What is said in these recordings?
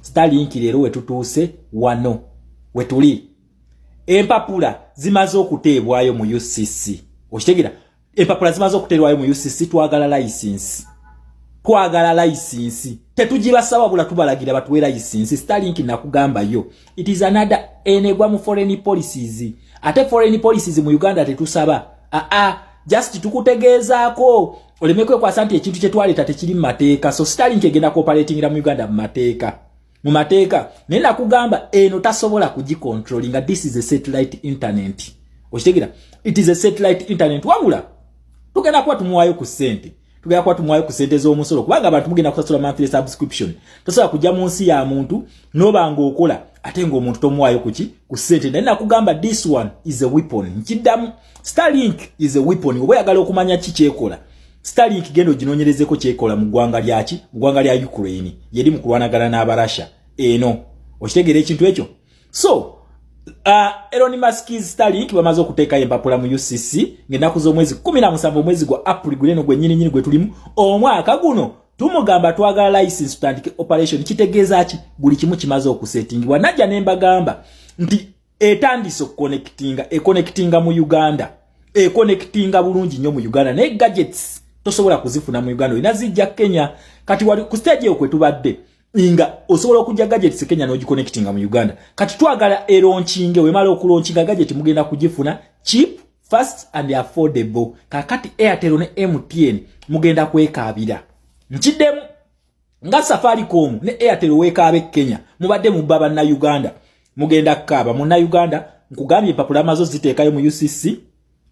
Starlink leero wetutuuse wano wetuli empapula zimaze okuteebwayo mu UCC okitegera empapula zimaze okuteebwayo mu UCC twagala layisinsi twagala layisinsi tetugibasaba bula tubalagira batuwe layisinsi Starlink nakugambayo it is another enegwa mu foreign policies ate foreign policies mu Uganda tetusaba aa ah, ah, just tukutegeezaako oleme kwekwasa nti ekintu kyetwaleeta tekiri mu mateeka so sitalink egenda kuoperatingira mu uganda mu mateeka mu mateeka naye nakugamba eno tasobola kugicontrolinga this is a satellite internet okitegera it is a satellite internet wabula tugenda kuba tumuwaayo ku ssente tugenda kuba tumuwaayo ku ssente z'omusolo kubanga abantu mugenda kusasula monthly subscription tosobola kujja mu nsi ya muntu noba nga okola ate ngaomuntu tomuwaayo kuki ku ssente naye nakugamba this one is a weapon nkiddamu Starlink is a weapon oba yagala okumanya ki kyekola Starlink gendo ginonyerezeko kyekola mu gwanga lyaki mu gwanga lya Ukraine yedi mu kulwanagana na Russia eno okitegera ekintu ekyo so Uh, Elon Musk's Starlink bamaze okuteeka empapula mu UCC ng'ennaku z'omwezi 17 omwezi gwa April guleno gwe nyini nyini gwe tulimu omwaka guno tumugamba twagala license tutandike operation kitegeeza ki buli kimu kimaze okusettingibwa najja ne mbagamba nti etandise okukonekitinga ekonekitinga mu uganda ekonekitinga bulungi nnyo mu uganda naye gadgets tosobola kuzifuna mu uganda olina zijja kenya kati wali ku stage eyo kwetubadde nga osobola okujja gadgets kenya n'ogikonekitinga mu uganda kati twagala eronkinge wemala okulonkinga gadget mugenda kugifuna cheap fast and affordable kakati airtel ne mtn mugenda kwekaabira nkiddemu nga safaricom ne airtel weekaaba e kenya mubadde mubba bannayuganda mugenda kukaaba munnayuganda nkugambye empapula mazo ziteekayo mu ucc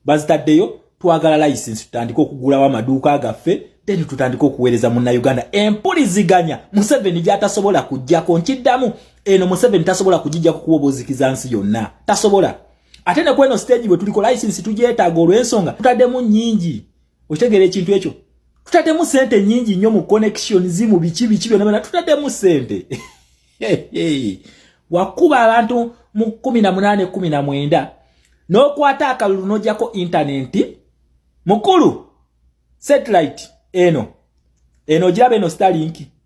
bazitaddeyo twagala layisinsi tutandike okugulawo amaduuka gaffe then tutandike okuweereza munnayuganda empuliziganya museveni gyatasobola kujjako nkiddamu eno museveni tasobola kugijjako kuba obuzikiza nsi yonna tasobola ate ne kweno siteegi bwe tuliko layisinsi tugyetaaga olw'ensonga tutaddemu nnyingi okitegera ekintu ekyo tutademu sente nyingi nyo mu connection zimu biki biki byona byona tutademu sente wakuba abantu mu kumi na munane kumi na mwenda nokwata akalulu nojako intanenti mukulu satellite eno eno ojiraba eno stalinki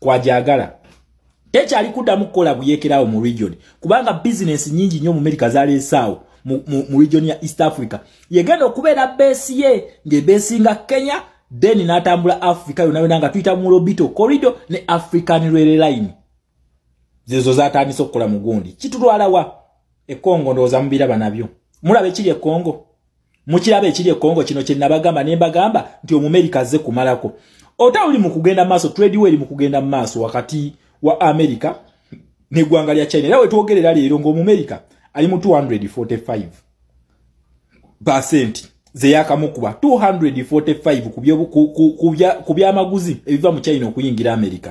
kwajagala tekyali kuddamu kukola buyekerawo mu region kubanga bizinensi nyingi nnyo mu merika zaleesaawo mu region ya east africa yegenda okubeera beesi ye ng'ebeesinga kenya then n'atambula africa yona yona nga tuyita mu lobito corridor ne african rere line zezo zatandise okukola mu gundi kitulwalawa ekongo ndowooza mubiraba nabyo mulaba ekiri ekongo mukiraba ekiri ekongo kino kyenabagamba nembagamba nti omumerika azze kumalako ota uli mukugenda maaso trade weri mukugenda maaso wakati wa america negwanga lya china era wetwogerera leero ngaomumerika ali mu 245 percent zeyakamukuba 245 ku byamaguzi ebiva mu china okuyingira america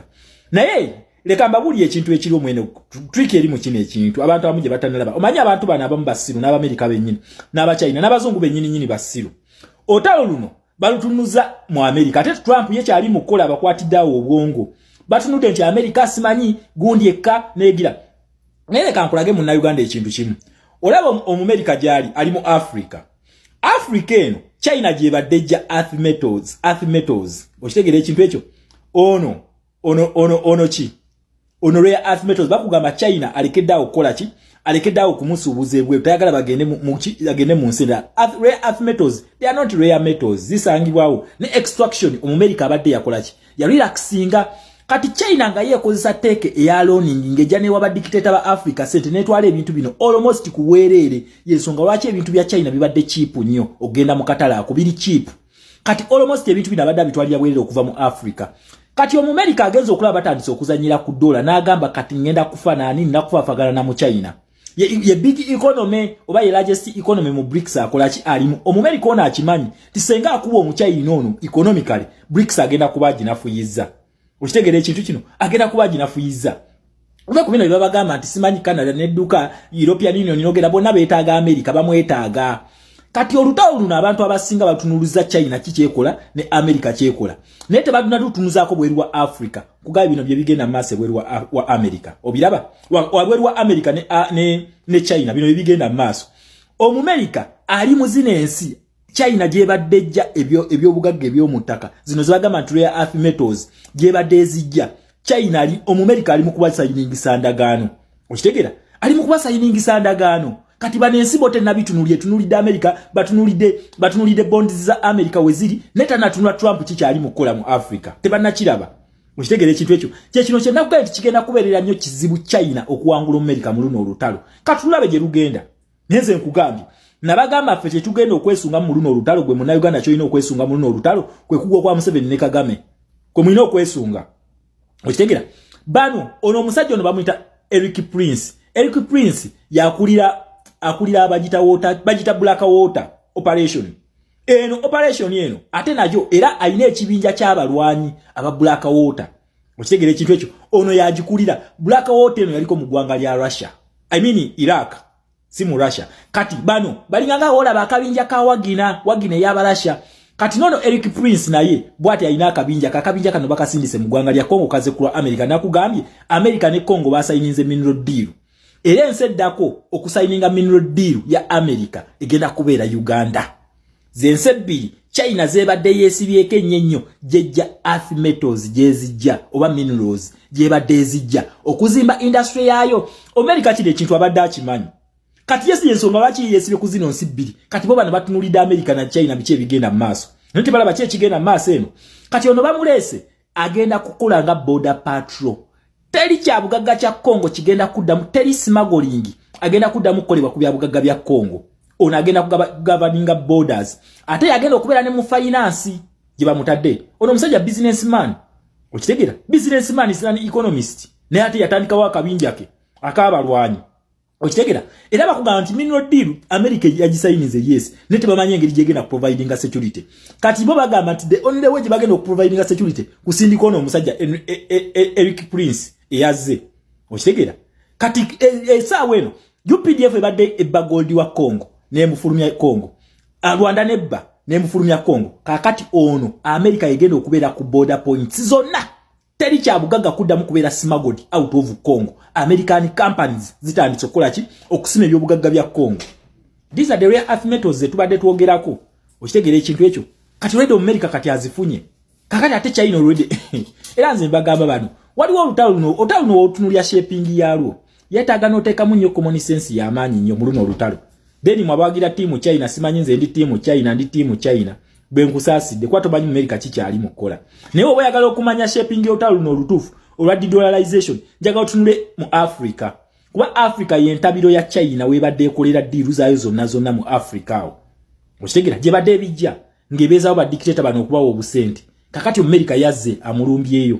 naye leka mbabuli ekintu ekiri omwene trick eri mu kino ekintu abantu abamu gye batanalaba omanyi abantu bano abamu basiru n'abamerika bennyini n'abachina n'abazungu bennyini nyini basiru otalo luno balutunuza mu amerika ate trump ye kyali mu kukola abakwatidde awo obwongo batunudde nti amerika simanyi gundi ekka negira naye leka nkulage munnauganda ekintu kimu olaba omumerika gyali ali mu africa africa eno china gyebadde ja earth metals earth metals okitegera ekintu ekyo ono ono ono ono ki ono rare earth metals bakugamba china alekedde awo kukola ki alekedde awo kumusuubuza ebweru tayagala bagende agende mu nsi endala rare earth metals they are not rare metals zisangibwawo ne extraction omumerika abadde yakola ki yarelaxinga kati china nga yeekozesa teeka eya loning ng'ejja newa badikiteeta ba africa sente netwala ebintu bino almost kuweereere yensonga lwaki ebintu bya china bibadde chiipu nnyo okugenda mu katalaako biri chiipu kati almost ebintu bino abadde abitwalira bwerere okuva mu africa kati omumerika agenza okulaba batandise okuzanyira ku dola n'agamba kati ngenda kufa naani nakufafagana na muchina ye, ye big economy oba ye largest economy mu brics akolaki alimu omumerika ono akimanyi ti senga akuba omuchina ono economically brics agenda kuba aginafuyiza okitegera ekintu kino agenda kuba aginafuyiza Oba kubino bye babagamba nti simanyi Canada n'edduka European Union n'ogera bonna beetaaga Amerika bamwetaaga kati olutalo luno abantu abasinga batunuluza China kikyekola ne Amerika kyekola naye tebaduna tutunuzaako bweru wa Africa kugaye bino bye bigenda maaso ebweru wa, wa Amerika obiraba wabweru wa, wa Amerika ne, ne, ne China bino bye bigenda maaso omumerika ali mu zino ensi China gyebadde ejja ebyobugagga ebyomu ttaka zino zebagamba nti rare earth metals gyebadde ezijja China ali omumerika ali mu kubasayiningisa ndagaano okitegera ali mu kubasayiningisa ndagaano kati bano ensi bo tenabitunulira etunulidde amerika batunulidde batunulidde bonds za amerika weziri naye tanatunula trump kikyali mu kukola mu africa tebanakiraba okitegera ekintu ekyo kyekino kyenakugaye nti kigenda kubeerera nnyo kizibu china okuwangula omumerika mu luno olutalo katulabe gye lugenda naye nze nkugambye nabagamba ffe kyetugenda okwesunga mu luno olutalo gwe munauganda kyolina okwesunga mu luno olutalo kwe kugwa kwa museveni ne kagame kwe mulina okwesunga okitegera bano ono omusajja ono bamuyita eric prince eric prince yakulira akulira abagita water bagita black water operation eno operation eno ate najo era alina ekibinja ky'abalwanyi aba black water okitegera ekintu ekyo ono yagikulira black water eno yaliko mu ggwanga lya russia i mean iraq si mu russia kati bano balinganga olaba akabinja ka wagina wagina eyaba russia kati nono eric prince naye bwati alina akabinja kakabinja kano bakasindise mu ggwanga lya congo kaze kulwa america nakugambye america ne congo basayininze mineral deal era ensi eddako okusayininga mineral deal ya america egenda kubeera uganda zensi ebbiri china zebadde yesibyeko ennyo ennyo gyejja earth metals gyezijja oba minerals gyebadde ezijja okuzimba industry yaayo america kino ekintu abadde akimanyi kati yesi yensonga lwaki yesibye ku zino nsi bbiri kati bo bano batunulidde america na china biki ebigenda mu maaso naye tebalaba ki ekigenda mu maaso eno kati ono bamuleese agenda kukola nga border patrol teri kya bugagga kya Congo kigenda kuddamu teri smuggling agenda kuddamu kukolebwa ku bya bugagga bya Congo ono agenda kugabaninga borders ate yagenda okubeera ne mu finance gye bamutadde ono omusajja business man okitegera business man is an economist naye ate yatandikawo akabinja ke akaabalwanyi okitegera era bakugamba nti mineral deal america yagisayinize yes ne tebamanyi engeri gyegenda kuprovidinga security kati bo bagamba nti the only way gyebagenda okuprovidinga security kusindika ono omusajja e, e, e, eric prince eyazze okitegera kati esaawa eno updf ebadde ebba goldi wa congo nemufulumya congo rwanda nebba nemufulumya congo kakati ono america yegenda okubeera ku border points zonna teri kyabugaga kuddamu kubeera simagodi out of congo american companies zitandise okukola ki okusima ebyobugagga bya congo these are the rare earth metals zetubadde twogerako okitegeera ekintu ekyo kati olwedde omumerika kati azifunye kakati ate china olwedde era nze mbagamba bano waliwo olutalo luno olutalo luno wotunulya shaping yalwo yetaaga n'oteekamu nnyo common sense y'amaanyi nnyo mu luno olutalo then mwabawagira tiimu china simanyi nze ndi tiimu china ndi tiimu china bwe nkusaasidde kuba tomanyi mu merika kikyali mu kukola naye oba oyagala okumanya shaping y'olutalo luno olutuufu olwa dedollarization njagala otunule mu africa kuba africa yentabiro ya china webadde ekolera diiru zaayo zonna zonna mu africa awo okitegera gyebadde ebijja ngebezawo ba dictator bano okubawa obusente kakati America yazze amulumbyeyo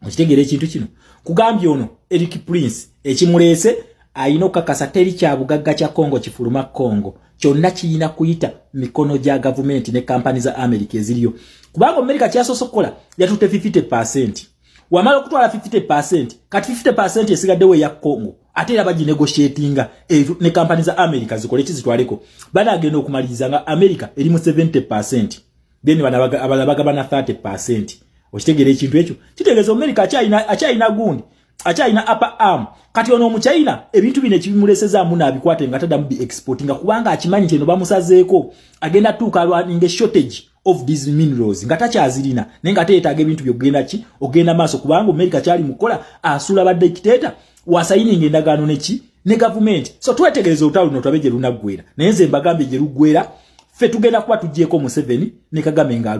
okitegeera ekintu kino kugambye ono Eric Prince ekimuleese ayina okukakasa teri kya bugagga kya Congo kifuluma Congo kyonna kiyina kuyita mikono gya gavumenti ne kampani za America eziriyo kubanga America kyasoose okukola yatutte 50 pasenti wamala okutwala 50% kati 50% esigaddewo eya congo ate era baginegotiatinga ne kampani za america zikole kizitwaleko banagenda okumaliriza nga america eri mu 70% then abala bagabana 30% okitegeera ekintu ekyo kitegeeza america akyalina gundi akyalina upper arm kati ono omuchina ebintu bino ekibimulesezaamu naabikwate nga tadamu bi exportinga kubanga akimanyi nti eno bamusazeeko agenda tuuka alwaninga eshortage of these minerals nga takyazirina naye nga teetaaga ebintu byokugenda ki okugenda maaso kubanga omerika kyali mukukola asuula ba dikitator wasayininga endagaano neki ne gavumenti so twetegereza olutalo luno tulabe gye lunaggwera naye nze mbagambye gye luggwera ffe tugenda kuba tuggyeko museveni ne kagame ngaalu